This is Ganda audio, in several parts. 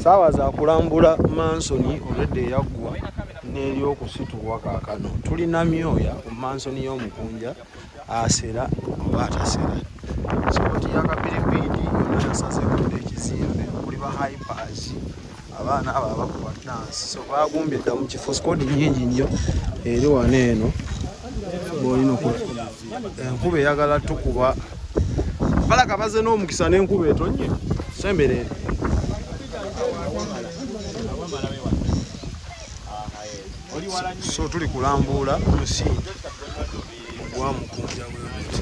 saawa zakulambula mansoni olwedda eyaggwa n'eryokusitulwa kakano tulina myoya ku mansoni y'omukunja asera oba atasera sokoti yakabiribiidi yona yasazekudde ekizimbe kuli ba hypers abaana abo abakuba dansi so bagumbye dda mu kifo sikodi nyingi nnyo eri wano eno bwolina oku enkuba eyagala tukuba balaga baze n'omukisa n'enkuba etonye semberere so tuli kulambuula musingi gwa mukunja webuti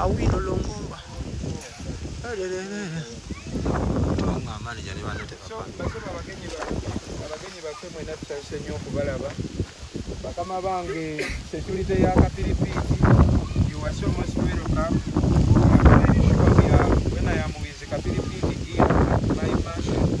Awino Longomba. Tubanga manager ne bano tebapa. Basoma abagenyi ba abagenyi bafe mwena tutase nnyo okubalaba. Bakama bange security ya kapiripiiti you are so much welcome. When I am with kapiripiiti here at my mansion,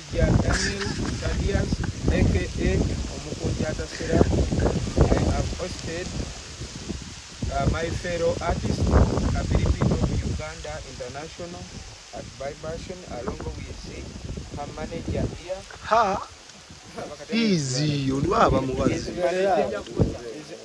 Omusajja Daniel Thaddeus aka Omukunja Atasera, I have hosted uh, my fellow artist Abilipino Uganda International at Vibration along with her manager here. Ha! Easy, olwaba mubazi.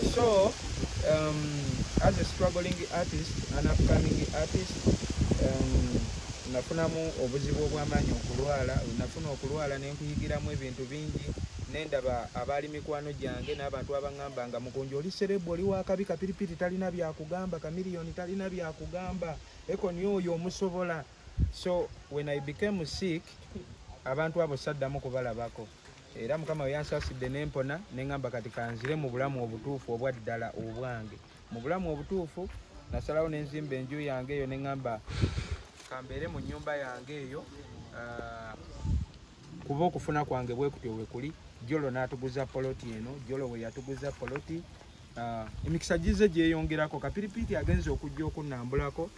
So um, as a struggling artist, an upcoming artist, um, nafunamu obuzibu obw'amaanyi okulwala, nafuna okulwala ne nkuyigiramu ebintu bingi nendaba abaali mikwano gyange n'abantu abangamba nga mukunja oli serebu oli wakabi kapiripiti talina byakugamba kamiliyoni talina byakugamba ekoni oyo omusobola so when i became sick abantu abo saddamu kubalabako era mukama weyansaasidde nempona nengamba kati kanzire mu bulamu obutuufu obwa ddala obwange mu bulamu obutuufu nasalawo nenzimba enju yange eyo nengamba kambeere mu nyumba yange eyo ah, kuba okufuna kwange bwekutyo wekuli jolo natuguza poloti eno jolo weyatuguza poloti ah, emikisa gize gyeyongerako kapiripiiti agenza okujja okunambulako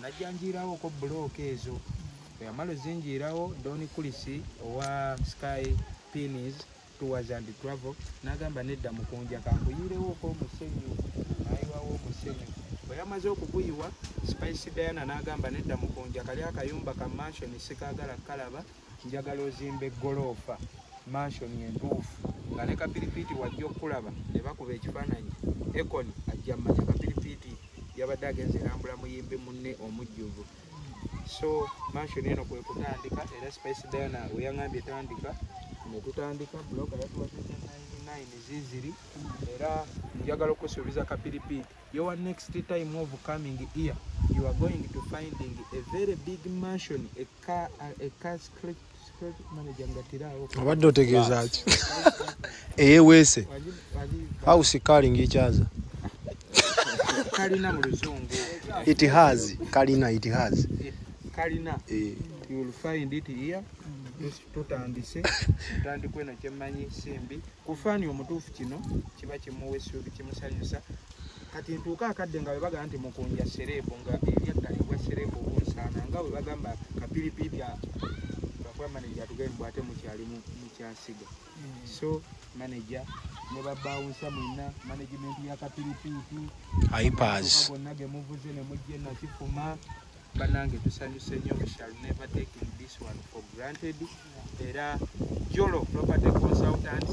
najja njiirawoko bulooka ezo bweyamala ozinjiirawo doni kulisi owa sky pins tours and travel nagamba nedda mukunja kankuyiirewoko omusenyu nayiwawo omusenyu bweyamaze okuguyiwa spice diana nagamba nedda mukunja kali akayumba ka mansion sikagala kalaba Njagala ozimba eggoloofa manshoni entuufu nga ne kapiripiiti wajja okukulaba ne bakuba ekifaananyi. Ekoni ajja mmanya kapiripiiti yabadde agenze erambula muyimbi munne omujjuvu. So manshoni eno kwe kutandika era Spice Diana we yang'ambye tandika ne tutandika buloka yatuwadde nine ziziri era njagala okusuubiza kapiripiiti your next time of coming here you are going to finding a very big mansion obadde otegeeza ki eyeweese house calling ekyaza kalina mu luzungu it has kalina it has kalina eh. you will find it here tutandise tutandikwe nakyemanyi simbi kufaani omutuufu kino kiba kimuwa essuubi kimusanyusa kati ntuuka akadde nga webagamba nti mukunja sereebu nga eryaddala ebwa sereebu obunsaana nga webagamba kapiripiipi akuba manaja atugee mbu ate mukyali mukyasiga hmm. so manaja ne babawunsa mwena management ya kapiripiipi ipars gonna gemuvuze ne mujje nakifuma banange tusanyuse nyo we shall never take this one for granted era jolo property consultants